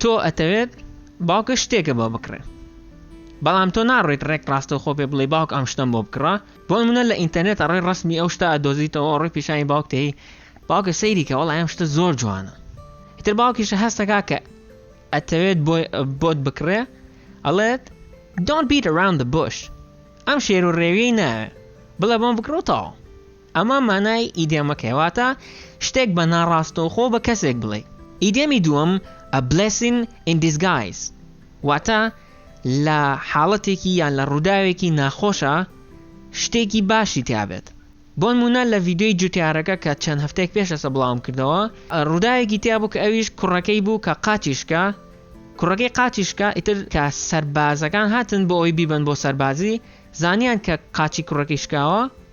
تۆ ئەتەوێت باوکت شتێکە بۆ بکڕێ بەڵام تۆ ناڕۆیت ڕێک ڕاستەوخۆ پێ بڵێی باوک ئەم شتەم بۆ بکڕە بۆ نمونە لە ئینتەرنێت ئەڕۆی ڕەسمی ئەو شتە ئەدۆزیتەوە ئەڕۆی پیشانی باوک تێی باوکە سەیری کە وەڵا ئەم شتە زۆر جوانە ئیتر باوکیشە هەستەکا کە ئەتەوێت بۆت بکڕێ ئەڵێت Don't beat around the bush ئەم شێر و ڕێویەی ناوێ بڵێ بۆم بکڕۆتەوە ئەمە مانای ئیدێمەکەیە واتە شتێک بە ناڕاستەوخۆ بە کەسێک بڵێی. ئیدێمی دووەم A blessing in disguise واتە لە حاڵەتێکی یان لە ڕووداوێکی ناخۆشا شتێکی باشی تیابێت. بۆنموونە لە ڤیدیۆی جوتیارەکە کە چەند هەفتەیەک پێشەسە بڵاوم کردەوە ڕووداوێکی تیابوو کە ئەویش کوڕەکەی بوو کە قاچی شکا کوڕەکەی قاچی شکا ئیتر کە سەربازەکان هاتن بۆ ئەوی بیبەن بۆ سەربازی زانیان کە قاچی کوڕەکەی شکاوە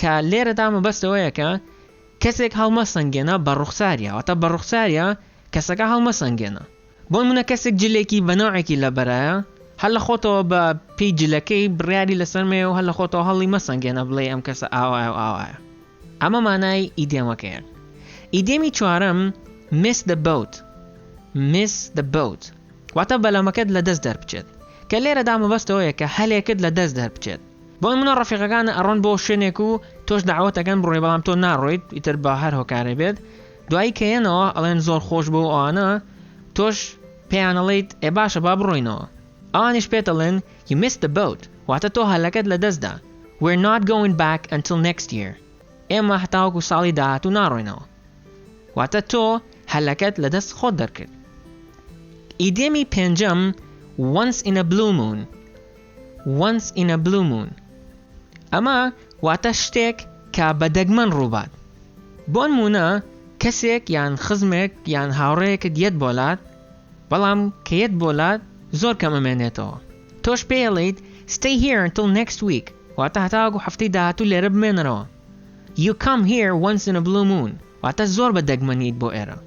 کە لێرەدا مەبەست لەوەیە کە کەسێک هەڵمەسەنگێنە بە ڕوخساریا، واتە بە ڕوخساریا کەسەکە هەڵمەسەنگێنە. بۆ نموونە کەسێک جلێکی بە نەوعێکی لەبەرایە، هەر لە خۆتەوە بە پێی جلەکەی بڕیاری لەسەر مەیە و هەر لە خۆتەوە هەڵی مەسەنگێنە بڵێی ئەم کەسە ئاوایە و ئاوایە. ئەمە مانای ئیدێمەکەیە. ئیدێمی چوارەم Miss the boat Miss the boat واتە بەلەمەکەت لەدەست دەربچێت، کە لێرەدا مەبەست لەوەیە کە هەلێکت لەدەست دەربچێت. بۆ نمونە ڕەفیقەکانە ئەڕۆن بۆ شوێنێک و تۆش داوەت ئەەکەن بڕۆی بەڵام تۆ ناڕۆیت ئیتر بە هەر هۆکارێ بێت دوایی کە یەنەوە ئەڵێن زۆر خۆش بۆ ئەوانە تۆش پێیانەڵیت ئێ باشە با بڕۆینەوە ئەوانیش پێتەڵێن you missed the boat واتە تۆ هەلەکەت لە دەستدا we're not going back until next year ئێمە هەتاوەکو ساڵی داهاتوو ناڕۆینەوە واتە تۆ هەلەکەت لە دەست خۆت دەرکرد ئیدێمی پێنجەم once in a blue moon Once in a blue moon ئەمە واتە شتێک کە بە دەگمەن ڕووبات بۆنموونە کەسێک یان خزمێک یان هاوڕێیەکت یەت بۆلات بەڵام کە یەت بۆلات زۆر کەم ئەمێنێتەوە تۆش پێی ئەڵێیت Stay here until next week واتە هەتاوەکو هەفتەی داهاتوو لێرە بمێنەرەوە You come here once in a blue moon واتە زۆر بە دەگمەن نیت بۆ ئێرە.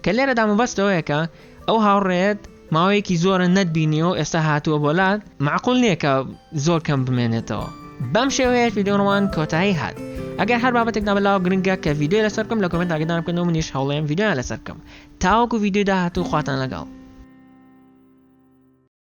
کە لێرەدا مەبەست ئەوەیە کە ئەو هاوڕێیەت ماوەیەکی زۆرە نەتبینیوە و ئێستا هاتووە بۆ لات، مەعقول نییە کە زۆر کەم بمێنێتەوە. بەم شێوەیەش ڤیدیۆنمان کۆتایی هات. ئەگەر هەر بابەتێک نابلاوە گرنگە کە ڤیدیۆی لەسەر بکەم لە کۆمێنت ئاگادارم بکەن و منیش هەوڵێم ڤیدیۆیان لەسەر بکەم. تاوەکو ڤیدیۆی داهاتوو خواتان لەگەڵ.